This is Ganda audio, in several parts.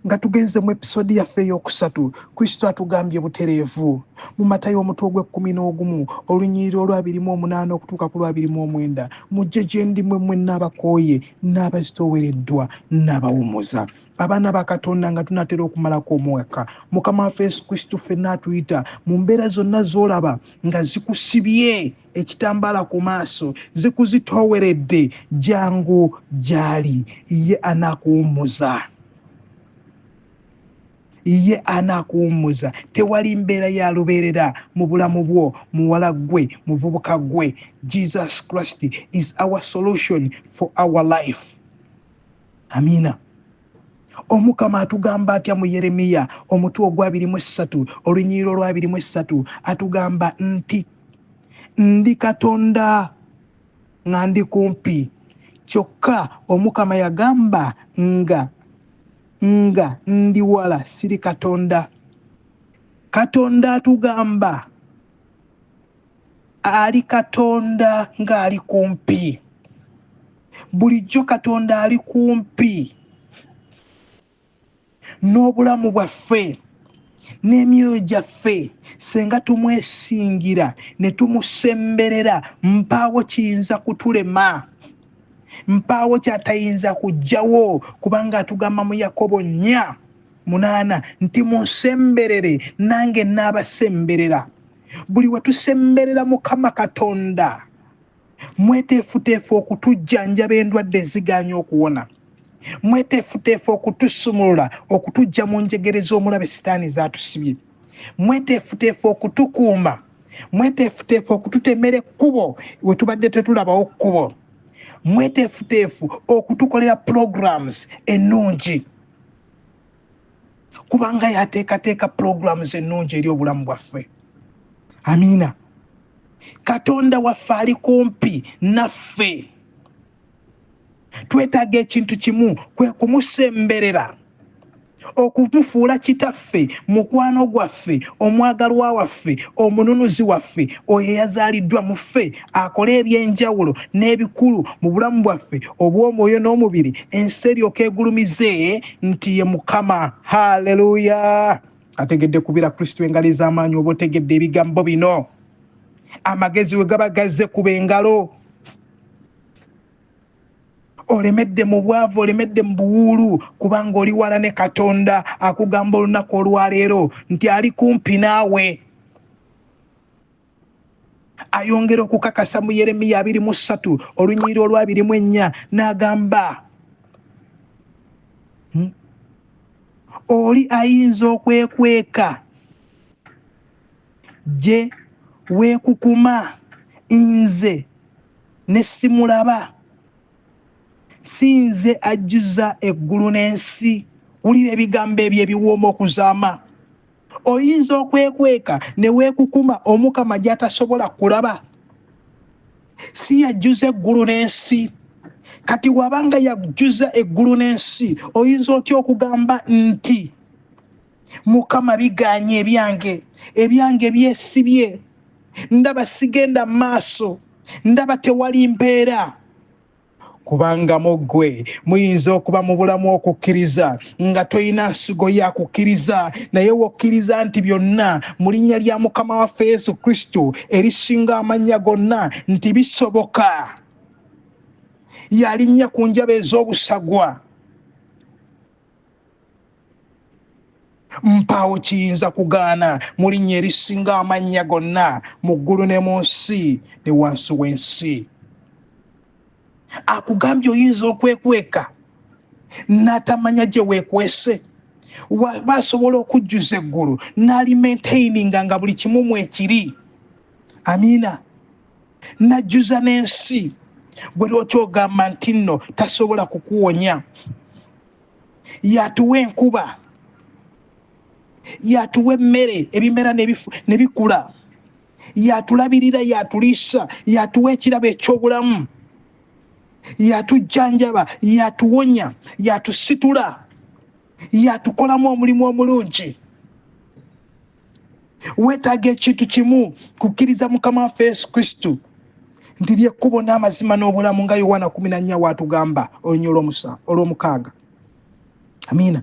nga tugenze mu episodi yaffe ey'okusatu kristo atugambye butereevu mu matayo omutwe ogw'ekkumi n'ogumu olunyirira olwabiri mu omunaana okutuuka ku lwabiri mu omwenda mujje gye ndi mwe mwe n'abakooye n'abazitoowereddwa n'abawumuza abaana ba katonda nga tunatera okumalako omwaka mukama waffe yesu kristo ffenna atuyita mu mbeera zonna z'olaba nga zikusibye ekitambaala ku maaso zikuzitooweredde jangu gy'ali ye anakuwummuza ye anakuwummuza tewali mbeera ya lubeerera mu bulamu bwo muwala ggwe muvubuka ggwe jesus christ is our solution for our life amiina omukama atugamba atya mu yeremiya omutwe ogwabiri mu essatu olunyiriro olwabiri mu essatu atugamba nti ndi katonda nga ndi kumpi kyokka omukama yagamba nga nga ndi wala siri katonda katonda atugamba ali katonda ng'ali kumpi bulijjo katonda ali kumpi n'obulamu bwaffe n'emyoyo gyaffe senga tumwesingira ne tumusemberera mpaawo kiyinza kutulema mpaawo kyatayinza kujjawo kubanga atugamba mu yakobo nnya munaana nti munsemberere nange naabasemberera buli we tusemberera mukama katonda mweteefuteefu okutujjanjaba endwadde ezigaanya okuwona mweteefuteefu okutusumulula okutujja mu njegere z'omulabe sitaani zaatusibye mweteefuteefu okutukuuma mweteefuteefu okututemera ekkubo we tubadde tetulabawo kkubo mweteefuteefu okutukolera programs ennungi kubanga yateekateeka pulogulaamu z'ennungi eri obulamu bwaffe amiina katonda waffe ali kumpi naffe twetaaga ekintu kimu kwe kumusemberera okumufuula kitaffe mukwano gwaffe omwagalwa waffe omununuzi waffe oyo eyazaaliddwa mu ffe akola ebyenjawulo n'ebikulu mu bulamu bwaffe obw'omwoyo n'omubiri ensi eryoka egulumize nti ye mukama haleluya ategedde kubira kristo engalo ez'amaanyi oba otegedde ebigambo bino amagezi we gaba gazze kuba engalo olemedde mu bwavu olemedde mu buwuulu kubanga oli wala ne katonda akugamba olunaku olwaleero nti ali kumpi naawe ayongera okukakasa mu yeremiya abiri mu ssatu olunyiriri olwabiri mu ennya n'agamba hmm, oli ayinza okwekweka gye weekukuma nze ne simulaba si nze ajjuza eggulu n'ensi wulira ebigambo ebyo ebiwooma okuzaama oyinza okwekweka ne weekukuma omukama gy'atasobola kulaba si yajjuza eggulu n'ensi kati waba nga yajjuza eggulu n'ensi oyinza otya okugamba nti mukama biganye ebyange ebyange byesibye ndaba sigenda maaso ndaba tewali mpeera kubanga mu ggwe muyinza okuba mu bulamu okukkiriza nga tolina nsigo ya kukkiriza naye wokkiriza nti byonna mu linnya lya mukama waffe yesu kristo erisinga amannya gonna nti bisoboka yalinnya ku njaba ez'obusagwa mpaawo kiyinza kugaana mu linnya erisinga amannya gonna mu ggulu ne mu nsi ne wansi w'ensi akugambye oyinza okwekweka n'atamanya gye weekwese waba asobola okujjuza eggulu n'alimentaininga nga buli kimu mwekiri amiina n'ajjuza n'ensi gwe lwaki ogamba nti nno tasobola kukuwonya yatuwa enkuba yatuwa emmere ebimera nebikula yatulabirira yatuliisa yatuwa ekirabo ekyobulamu yatujjanjaba yatuwonya yatusitula yatukolamu omulimu omulungi weetaaga ekintu kimu kukkiriza mukama waffe yesu kristo nti lyekkubo n'amazima n'obulamu nga yowaana kumi na nnya waatugamba olunya olw'omukaaga amiina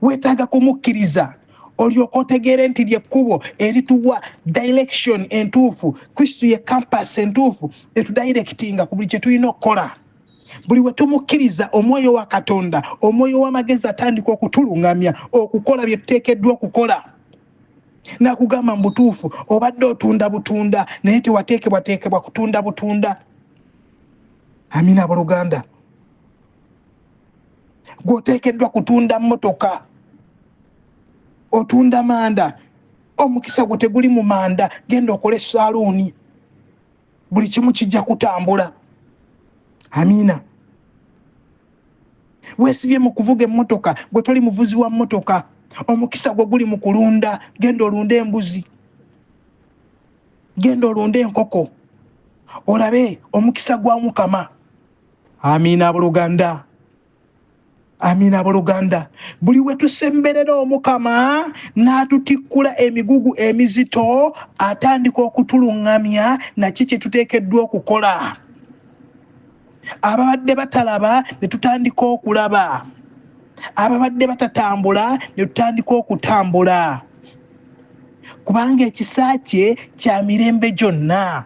weetaaga kumukkiriza olyoka otegeere nti lyekkubo erituwa direction entuufu kristo ye campas entuufu etudirectinga ku buli kye tulina okukola buli we tumukkiriza omwoyo wa katonda omwoyo w'amagezi atandika okutulungamya okukola bye tuteekeddwa okukola nakugamba mu butuufu obadde otunda butunda naye tewateekebwateekebwa kutunda butunda amina abooluganda gweoteekeddwa kutunda mmotoka otunda manda omukisa gwo teguli mu manda genda okole saaluuni buli kimu kijja kutambula amiina wesibye mu kuvuga emmotoka gwe toli muvuzi wa mmotoka omukisa gwe guli mu kulunda genda olunde embuzi genda olunde enkoko olabe omukisa gwa mukama amiina buluganda amiina abooluganda buli we tusemberera omukama n'atutikkula emigugu emizito atandika okutuluŋŋamya naki kye tuteekeddwa okukola ababadde batalaba ne tutandika okulaba ababadde batatambula ne tutandika okutambula kubanga ekisa kye kya mirembe gyonna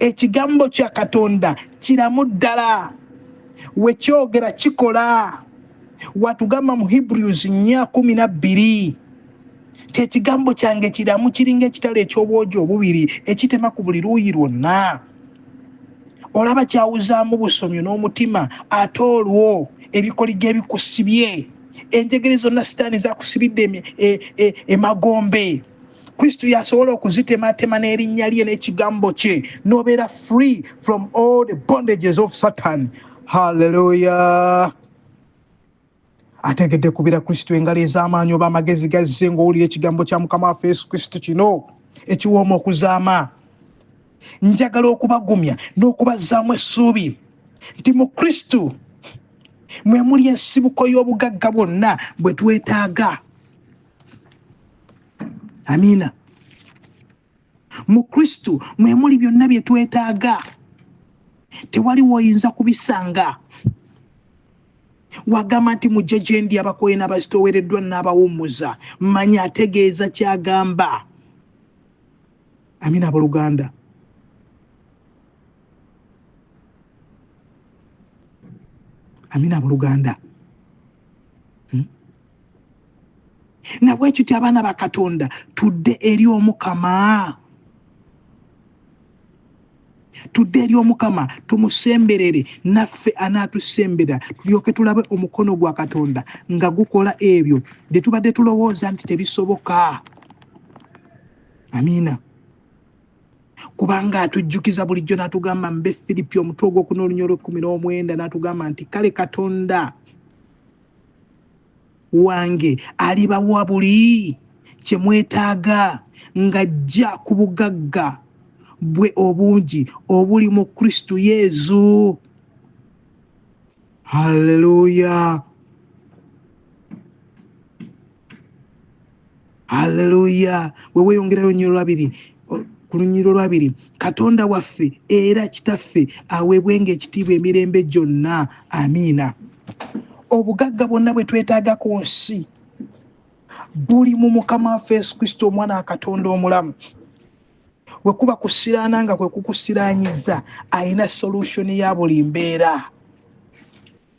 ekigambo kya katonda kiramu ddala wekyogera kikola watugamba mu hebrews nya kumi na bbiri ti ekigambo kyange kiramu kiringa ekitala eky'obwogi obubiri ekitema ku buli luuyi lwonna olaba kyawuzaamu busomyo n'omutima ate olwo ebikoligo ebikusibye enjegere zonna sitaani zakusibidde e, e, emagombe e, e, e, e, e, e, e, e, kristo yasobola okuzitematema n'erinnya lye n'ekigambo kye nobeera free from all the bondages of satan halleluya ategedde kubira kristo engalo ez'amaanyi oba amagezi gazze ng'owulira ekigambo kya mukama waffe yesu kristo kino ekiwooma okuzaama njagala okubagumya n'okubazzaamu essuubi nti mu kristo mwe muli ensibuko y'obugagga bwonna bwe twetaaga amiina mu kristo mwe muli byonna bye twetaaga tewali woyinza kubisanga wagamba nti mujje gye ndi abakoye n'abazitowereddwa n'abawummuza manya ategeeza kyagamba amina aboluganda amina aboluganda nabwekiti abaana ba katonda tudde eri omukama tudde eri omukama tumusemberere naffe anaatusembera tulyoke tulabe omukono gwa katonda nga gukola ebyo bye tubadde tulowooza nti tebisoboka amiina kubanga atujjukiza bulijjo n'atugamba mbe firipi omutwe ogwokuna olunya olwekumi n'omwenda n'atugamba nti kale katonda wange alibawa buli kye mwetaaga ng'ajja ku bugagga bwe obungi obuli mu kristo yezu halleluya aleluya weweyongerayo nyo olwabiri ku lunyiriro olwabiri katonda waffe era kitaffe aweebwenga ekitiibwa emirembe gyonna amiina obugagga bwonna bwe twetaaga ku nsi buli mu mukama waffe yesu kristo omwana wa katonda omulamu bwe kuba kusiraana nga kwe kukusiraanyiza alina solution ya buli mbeera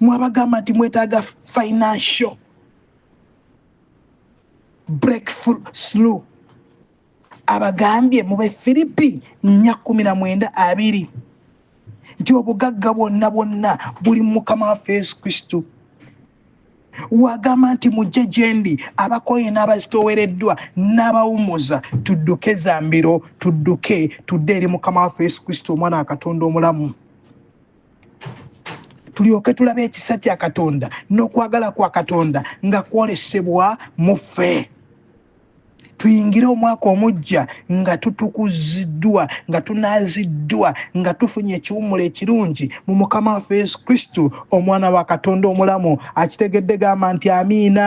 mwabagamba nti mwetaaga financial breakthrough slew abagambye mu befiripi nya kumi na mwenda abiri nti obugagga bwonna bwonna buli mu mukama waffe yesu kristo wagamba nti mujje gyendi abakoye n'abazitowereddwa n'abawumuza tudduke zambiro tudduke tudde eri mukama waffe yesu kristo omwana wa katonda omulamu tulyoke tulabe ekisa kya katonda n'okwagala kwa katonda nga kwolesebwa mu ffe tuyingire omwaka omujja nga tutukuziddwa nga tunaziddwa nga tufunye ekiwummulo ekirungi mu mukama waffe yesu kristo omwana wa katonda omulamu akitegedde gamba nti amiina